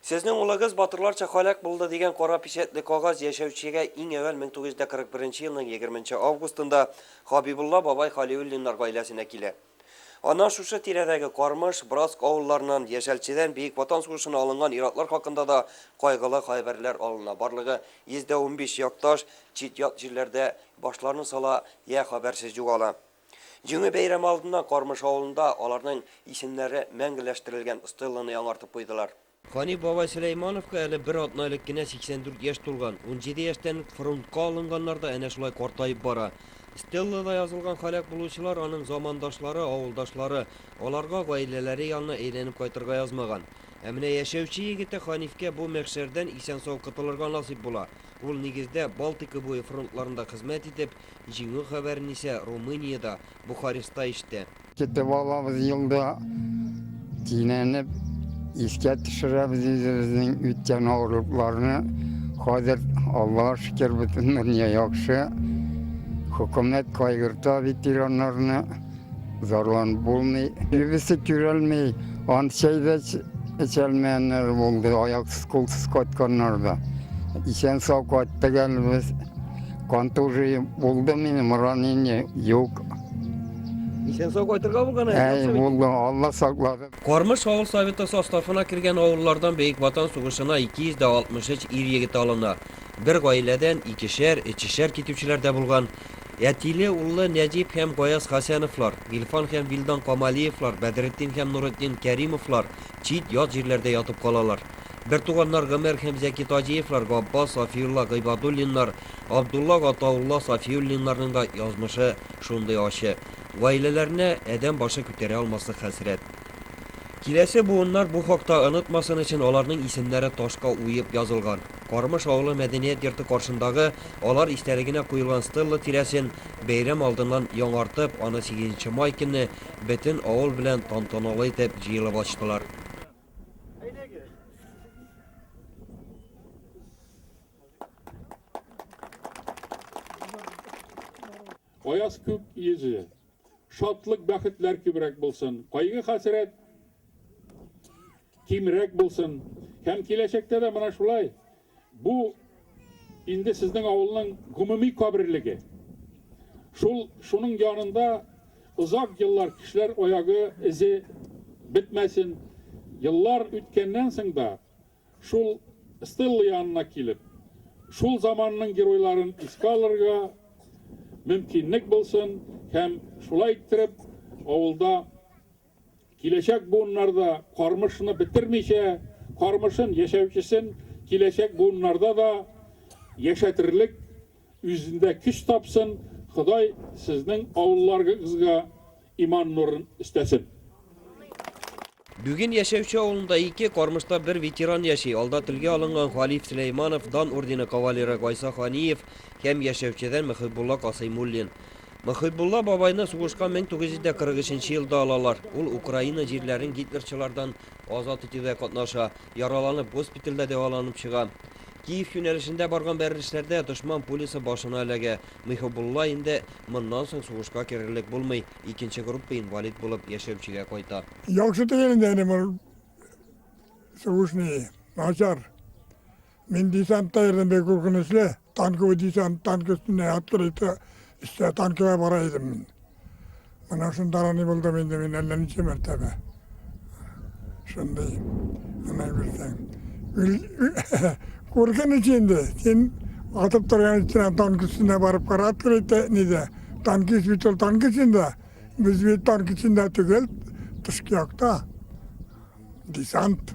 Сезнең улыгыз батырларча һәлак булды дигән кара пичәтле кагаз яшәүчегә иң әүвәл 1941 елның егерменче августында Хабибулла бабай Халиуллиннар гаиләсенә килә. Аннан шушы тирәдәге Кармыш, Браск авылларыннан, Яшәлчедән Бөек Ватан сугышына алынган ир-атлар хакында да кайгылы хәбәрләр алына, барлыгы 115 якташ чит-ят җирләрдә башларын сала йә хәбәрсез югала. Җиңү бәйрәме алдыннан Кармыш авылында аларның исемнәре мәңгеләштерелгән стелланы яңартып куйдылар. Гани бабай Сөләймановка әле бер атна элек кенә 84 яшь тулган. Унҗиде яшьтән үк фронтка алынганнар да әнә шулай картаеп бара. Стеллада язылган һәлак булучылар аның замандашлары, авылдашлары. Аларга гаиләләре янына әйләнеп кайтырга язмаган. Ә менә яшәүче егете Ханифкә бу мәхшәрдән исән-сау котылырга насыйп була. Ул нигездә Балтика буе фронтларында хезмәт итеп, җиңү хәбәрен исә Румыниядә, Бухареста ишетә. Китеп алабыз юлда кинәнеп, Искә төшерәбез үзебезнең үткән авырлыкларны. Хәзер, Аллага шөкер, бөтен дөнья яхшы. Хөкүмәт кайгырта ветераннарны. Зарланып булмый. Нибесе түрәлми. Ант чәй дә эчәлмәеннәр булды. Аяксыз, кулсыз кайтканнар да. Исән сау кайттык әле без. Контужи булды минем, ранение юк. Исән сау кайтырга булган Әй, булды, Алла саклады. Кармыш авыл советы составына кергән авыллардан Бөек Ватан сугышына 263 ир егете алына. Бер гаиләдән икешәр, өчешәр китүчеләр дә булган. Әтиле-уллы Нәҗип һәм Гаяз Хәсәновлар, Гилфан һәм Вилдан Камалиевлар, Бәдретдин һәм Нуретдин Кәримовлар чит, ят җирләрдә ятып калалар. Бертуганнар Гомәр һәм Зәки Таҗиевлар, Габбас, Сафиулла Гыйбадуллиннар, Абдулла, Гатаулла Сафиуллиннарның да язмышы шундый ачы. Гаиләләренә адәм башы күтәрә алмаслык хәсрәт. Киләсе буыннар бу хакта онытмасын өчен аларның исемнәре ташка уеп язылган. Кармыш авылы мәдәният йорты каршындагы алар истәлегенә куелган стелла тирәсен бәйрәм алдыннан яңартып, аны сигезенче май көнне бөтен авыл белән тантаналы итеп җыелып ачтылар. Аяз күк йөзе, шатлык-бәхетләр күбрәк булсын, кайгы-хәсрәт кимрәк булсын һәм киләчәктә дә менә шулай бу инде сезнең авылның гомуми каберлеге. Шул шуның янында озак еллар кешеләр аягы эзе бетмәсен. Еллар үткәннән соң да шул стелла янына килеп, шул заманның геройларын искә алырга мөмкинлек булсын һәм шулай иттереп авылда Киләчәк буыннар да Кармышны бетермичә, Кармышын яшәүчесен киләчәк буыннарда да яшәтерлек үзендә көч тапсын, Ходай сезнең авылларыгызга иман нурын өстәсен. Бүген Яшәүче авылында ике, Кармышта бер ветеран яши, алда телгә алынган Халиф Сөләйманов, Дан ордены кавалеры Гайса Ханиев һәм Яшәүчедән Мөхибулла Касыймуллин. Мөхибулла бабайны сугышка 1943 елда алалар. Ул Украина җирләрен гитлерчылардан азат итүдә катнаша, яраланып госпитальдә дәваланып чыга. Киев юнәлешендә барган бәрелешләрдә дошман пулясы башына эләгә. Мөхибулла инде моннан соң сугышка керерлек булмый, икенче группа инвалид булып яшәүчегә кайта. Яхшы түгел инде әни бу сугыш ни, начар. Мин десантта йөрдем, бик куркынычлы. Танковый десант, танк өстендә открыто эштә танкыга бара идем мин. Менә шунда рани булдым инде мин әллә ничә мәртәбә. Шундый менә күрсәң. Куркыныч инде. Син атып торган өстенә танк өстенә барып кара открыто нидә. Танкист бит ул танк эчендә. Без бит танк эчендә түгел, тышкы якта. Десант.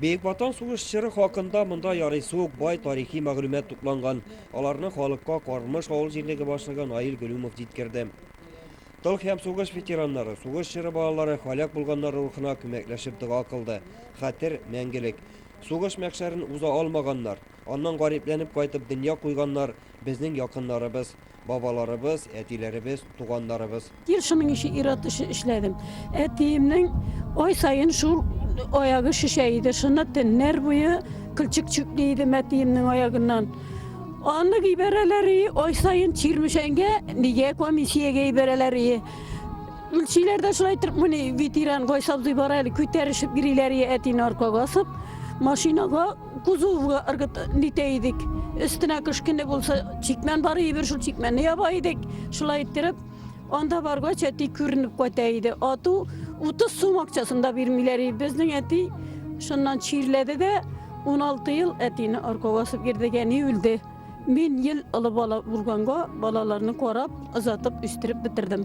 Бөек Ватан сугыш чоры хакында монда ярыйсы ук бай тарихи мәгълүмат тупланган. Аларны халыкка Кармыш авыл җирлеге башлыгы Наил Гөлүмов җиткерде. Тыл һәм сугыш ветераннары, сугыш чоры балалары һәлак булганнар рухына күмәкләшеп дога кылды. Хәтер, мәңгелек. Сугыш мәхшәрен уза алмаганнар, аннан гарипләнеп кайтып дөнья куйганнар безнең якыннарыбыз. Бабаларыбыз, әтиләребез, туганнарыбыз. Ел шуның ише ир-ат эше эшләдем. Әтиемнең ай саен шул аягы шешә иде. Шуны төннәр буе кылчык чүкли иде мәтиемнең аягыннан. Аны ибәрәләр и, ай саен Чирмешәнгә, нигә комиссиягә ибәрәләр и. Үлчиләр дә шулай итеп мени ветеран Гайсабзый бар әле, күтәрешеп йөриләр и әтине аркага асып, машинага Кузовга ыргыт нитә идек. Өстенә кышкыны булса, чикмән бар иде, бер шул чикмәнне яба идек. Шулай иттереп, анда баргач, әти күренеп кайта иде. Ату 30 сум акчасын да бирмиләр иде. Безнең әти шуннан чирләде дә, 16 ел әтине арка басып йөрдек, әни үлде. Мин ел олы бала булганга, балаларны карап, озатып, үстереп бетердем.